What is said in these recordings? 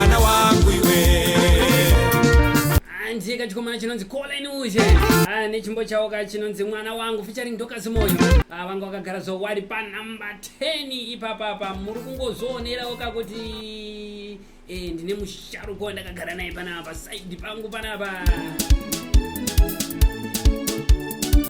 mwana wangu iwe hanzi kachikomana chinonzi colin uze Ah, nechimbo chawo ka chinonzi mwana wangu featuring dokas moyo Ah, vanga vakagara zvo wari panumber 10 ipapa pa muri kungozvionerawo ka kuti eh, ndine musharuka wandakagara naye panapa side pangu panapa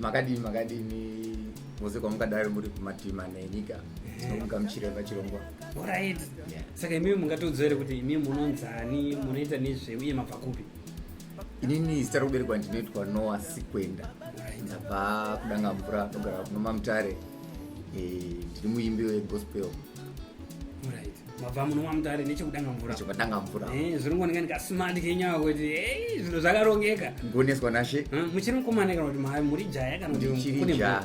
makadini makadini mose kwamukadari muri kumatima nenyika tinomuka muchireva chirongwa orit saka imimi mungatiudzwa here kuti imimi munonzani munoita nezvei uye mabva kupi inini zita rokuberekwa ndinoitwa noa sikwenda ndabva kudanga mvura ndogara kunoma mutare eh, ndiri muimbi wegospel mabva munomwa mutare nechekudanga mvuradanga mvura eh, zviri ngonenga ndikasumandi kenyawa kuti eh, zvinhu zvakarongeka ngoneswa nashe hm, muchiri mukomana kana kuti muri jaya kana kuti kune mvura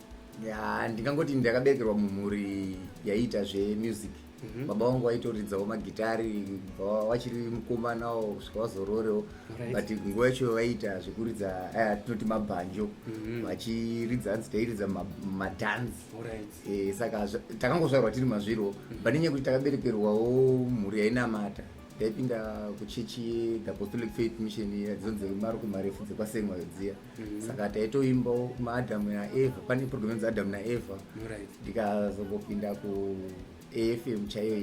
ya ndingangoti ndakaberekerwa mumhuri yaiita zvemusic mm -hmm. baba vangu vaitoridzawo magitari vachiri mukomanawo kusvika vazororewo right. but nguva yacho vaiita zvekuridza eh, tinoti mabhanjo mm -hmm. vachiridza hanzi tairidza madhanzi right. e, saka takangozvarwa tiri mazviro mm -hmm. but nenyaya kuti takaberekerwawo mhuri yainamata taipinda kuchechi the apostolic faith mission dzonzi marukumarefu dzekwasemwayo dziya Mhm. saka taitoimbawo maadamu naeva pane program inzi adamu naeva ndikazongopinda kuafm chaiyo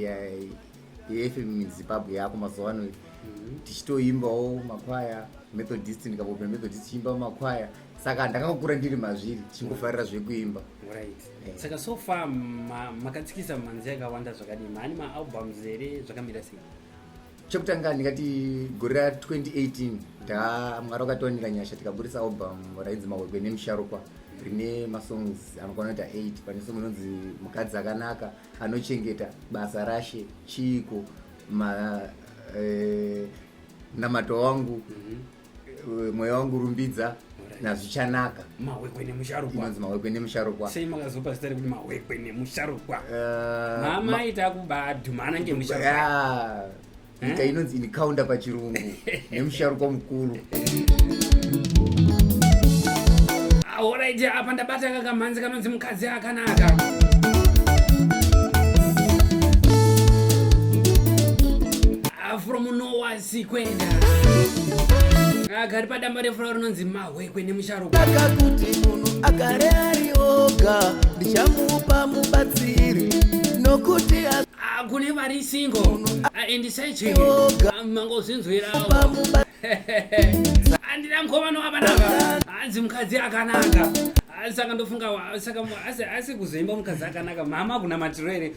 yeafm zimbabwe yako mazuva ano mhm. tichitoimbawo makwaya methodist ndikambopinda methodist tichiimbawo makwaya saka ndakakura ndiri mazviri chingofarira zvekuimba eh. saka so far makatsikisa manzi yakawanda zvakadii maani maalbums here zvakamira sei chekutanga ndingati gore ra 2018 ta mwari wakatiwanira nyasha tikaburitsa album rainzi mahwekwe nemusharukwa rine masongs anokwana kuita 8 pane song inonzi mukadzi akanaka anochengeta basa rashe chiiko ma eh, namata wangu mm -hmm. Eh, mweya wangu rumbidza nazvichanaka mahwekwe nemusharukwa inonzi mahwekwe nemusharukwa sei makazopa zita rekuti mahwekwe nemusharukwa eh, mama ita kubadhumana ngemusharukwa nyika eh? inonzi inikaunda pachirungu nemusharukwa mukuru horaiti ah, apa ndabata kakamhanzi kanonzi mukadzi akanaka ah, from nowas sikwenda agari padamba refura rinonzi mahwekwe nemusharukaka kuti munhu agare ari oga ndichamupa mubatsiri nokuti kune vari singo andisaicheoga mangozvinzwirawo andina mkomana wakanaka hanzi mukadzi akanaka saka ndofunga saka asi kuzoimba mukadzi akanaka mhama kunamatiro here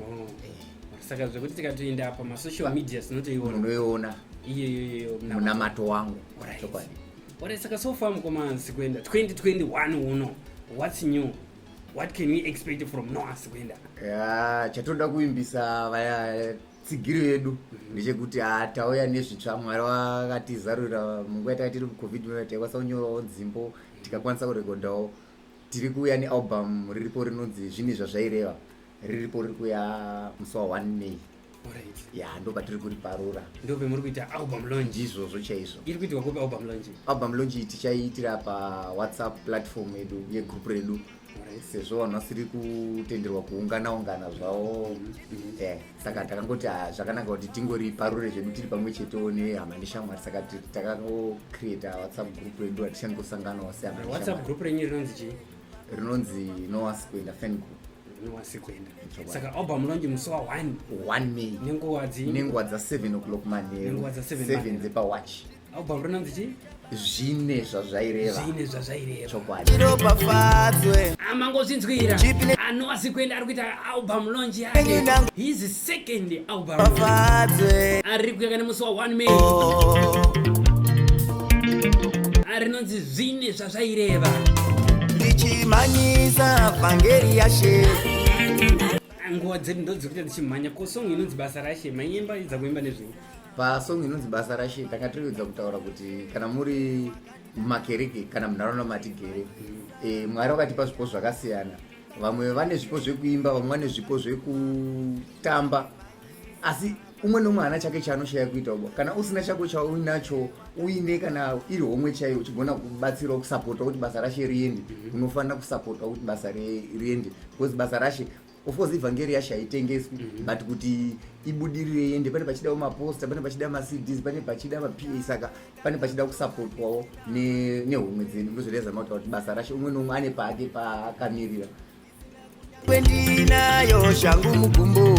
oh. saka zvekuti tikatoenda apa masocial media tinotoiona unoiona iyoyoyo munamato wangu chokwadi ore saka so far mukoma asi kuenda 2021 uno whats new what can we expect from no asi kuenda ya chatoda kuimbisa vaya tsigiri vedu mhm. ndechekuti ah, tauya nezvitsva mwari vakatizarurira munguva yataka tiri mucovid taikwanisa kunyorawo nzimbo tikakwanisa kurekodhawo Tiri kuuya nealbum riripo rinonzi zvinhi zvazvaireva riripo riri kuya musi wa 1 May. Alright. Ya ndo patiri kuriparura. Ndo pemuri kuita album launch. Ndizvozvo chaizvo. Iri kuitwa kupi album launch? Album launch tichaiitira pa WhatsApp platform yedu yegroup redu. Alright. Sezvo vanhu vasiri kutenderwa kuungana ungana zvawo. Mm -hmm. Yeah. saka takangoti ah, zvakanaka kuti tingori parure zvedu tiri pamwe chetewo nehama neshamwari saka takangocreata whatsapp group redu ratichaningosanganawo sewhatsapp group renyu rinonzi chii rinonzi noasi kuenda fan group noasi kuenda saka album rinonzi musi wa one one may nenguva dzi nenguva dza seven o'clock manheru seven dzepawachi album rinonzi chii zvine zvazvaireva zvine zvazvaireva chokwadi ropafadzwe amangozvinzwira anoasi kuenda ari kuita album launch yake his second album fadzwe ari kuyaka nemusi wa 1 may rinonzi zvine zvazvaireva ndichimhanyisa vhangeri yashe nguva dzedu ndodziri kuita ndichimhanya ko song inonzi basa rashe manyemba idza kuimba nezvei pasong inonzi basa rashe tanga tiriudza kutaura kuti kana muri mumakereke kana munharaunda matigere e, mwari vakatipa zvipo zvakasiyana vamwe vane zvipo zvekuimba vamwe vane zvipo zvekutamba asi umwe nomwe hana chake chaanoshaya kuita ubo kana usina chako chauinacho uine kana iri homwe chaiyo uchigona kubatsirawo kusapota kuti basa rashe riende mhm. unofanira kusapota kuti basa riende because basa rashe of course ivhangeri yacho haitengeswi mm -hmm. but kuti ibudirire iende pane pachida maposta pane pachida macds pane pachida mapa saka pane pachida kusapotwawo nehomwe ne dzedu ndozvireza mauta kuti basa rashe umwe noumwe ane pake pakamirira kwendinayo shangu mugumbo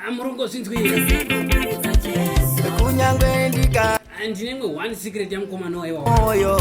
amurungo zvinzwikunyange ndika ndine imwe one secret yamukomana wayewaoyo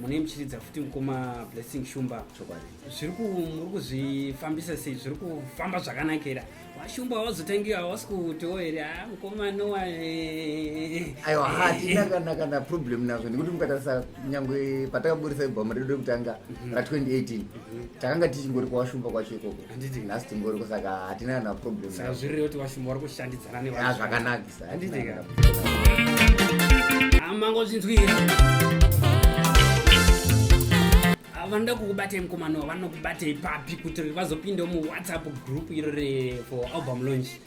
mune muchiridza futi mukoma blessing shumba zviri muri kuzvifambisa sei zviri kufamba zvakanakira vashumba havazotangira havasi kutiwo here a ah, mukoma nowa aiwa hatina kana kana problem nazvo nekuti mukatarisa nyangwe patakaburisa ibhamu redu rekutanga mhm. ra 2018 mhm. takanga tichingori kwawashumba kwacho ikoko handiti nhasi tingori kusaka hatina kana problem saka zvirire kuti vashumba vari kushandidzana nevanhu zvakanakisa handiti ka amangozvinzwira vanoda kukubatei mukomano vanokubatei papi kuti vazopindawo muwhatsapp group iro re for album launch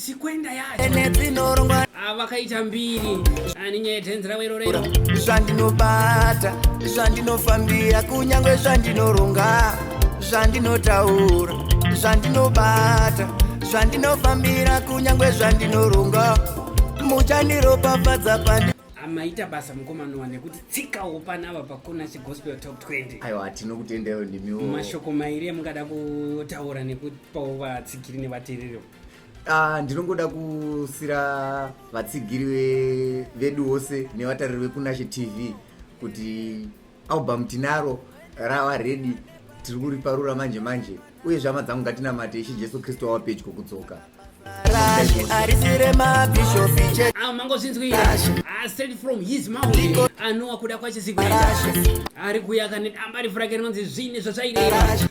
sikwenda yacho avakaita mbiri ani nyaya yedhenzi ravo iro rero zvandinobata zvandinofambira kunyange zvandinoronga zvandinotaura zvandinobata zvandinofambira kunyange zvandinoronga muchandiropafadza pandi maita basa mukomanowa nekuti tsikawo panava pakona chigospel top 20 aiwa hatino kutendeyo ndimiwo mashoko mairi amungada kutaura nekupao vatsigiri nevatereri Ah, ndinongoda kusira vatsigiri ve- vedu vose nevatariri vekunashe tv kuti album tinaro rava redi tiri kuriparura manje manje uye zvama dzangu ngatinamate ishe jesu kristu wava pedyo kudzoka Rally arisire mabishopi chete awo mangozvinzwira Ah, straight from his mouth anowa kuda kwachizikweta ari kuya kane damba refu rake rinonzi zvine zvazvaireva